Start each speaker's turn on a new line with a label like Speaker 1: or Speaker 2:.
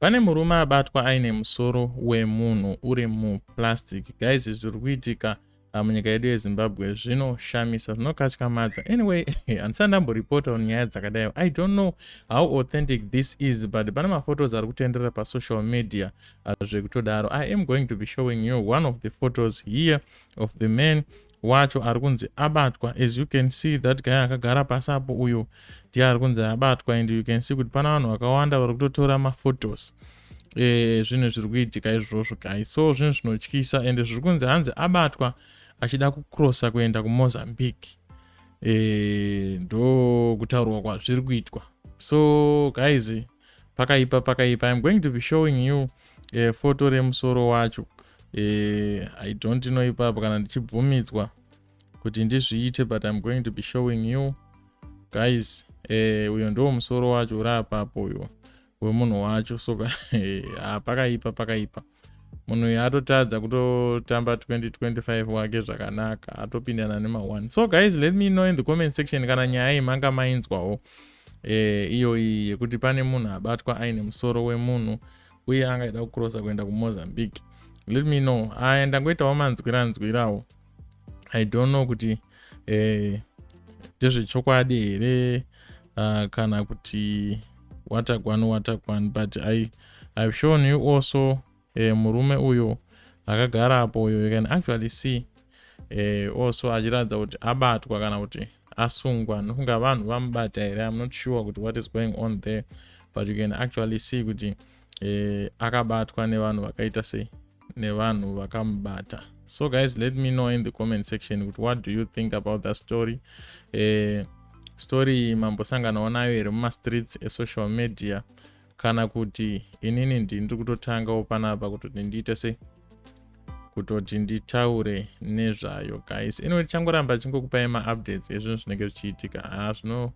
Speaker 1: Pane murume abatwa aine musoro wemunhu uri muplastic. Guys, zviri kuitika ah, munyika yedu yeZimbabwe zvinoshamisa, zvinokatyamadza. Anyway, handisati ndamboripota on nyaya dzakadai. I don't know how authentic this is, but pane maphotos ari kutenderera pasocial media ah, zvekutodaro. I am going to be showing you one of the photos here of the man wacho ari kunzi abatwa as you can see that guy akagara pasi apo uyo ndiye ari kunzi abatwa and you can see kuti pana vanhu vakawanda vari kutotora maphotos e, zvinhu zviri kuitika izvozvo guy so zvinhu zvinotyisa and zviri kunzi hanzi abatwa achida kucrossa kuenda kumozambique e, ndo kutaurwa kwazviri kuitwa so guys pakaipa pakaipa im going to be showing you uh, foto remusoro wacho uh, i don't know ipapo kana ndichibvumidzwa kuti ndizviite but im going to be showing you guys eh, uyo ndiwo musoro wacho uri apapo uyo wemunhu wacho so eh, ah, pakaipa pakaipa munhu uyu atotadza kutotamba 2025 wake zvakanaka atopindana nema1 so guys let me know in the comment section kana nyaya iyi manga mainzwawo eh, iyoyi yekuti pane munhu abatwa aine musoro wemunhu uye angaida kucrossa kuenda kumozambique let me know aya ndangoitawo manzwiranzwirawo i don't know kuti eh, ndezvechokwadi eh, here uh, kana kuti watakwan watakwan but i i've shown you also eh, murume uyo akagara apo uyo you can actually see eh, also achiratidza kuti abatwa kana kuti asungwa nokunga vanhu vamubata here i'm not sure kuti what is going on there but you can actually see kuti e, akabatwa nevanhu vakaita sei nevanhu vakamubata so guys let me know in the comment section kuti what do you think about that story e, story iyi mambosanganawo nayo here mumastreets esocial media kana kuti inini ndindiri kutotangawo panapa kutoti ndiite sei kutoti nditaure nezvayo guys anyway tichangoramba chingokupai maupdates ezvinhu zvinenge zvichiitika haa ah, zvino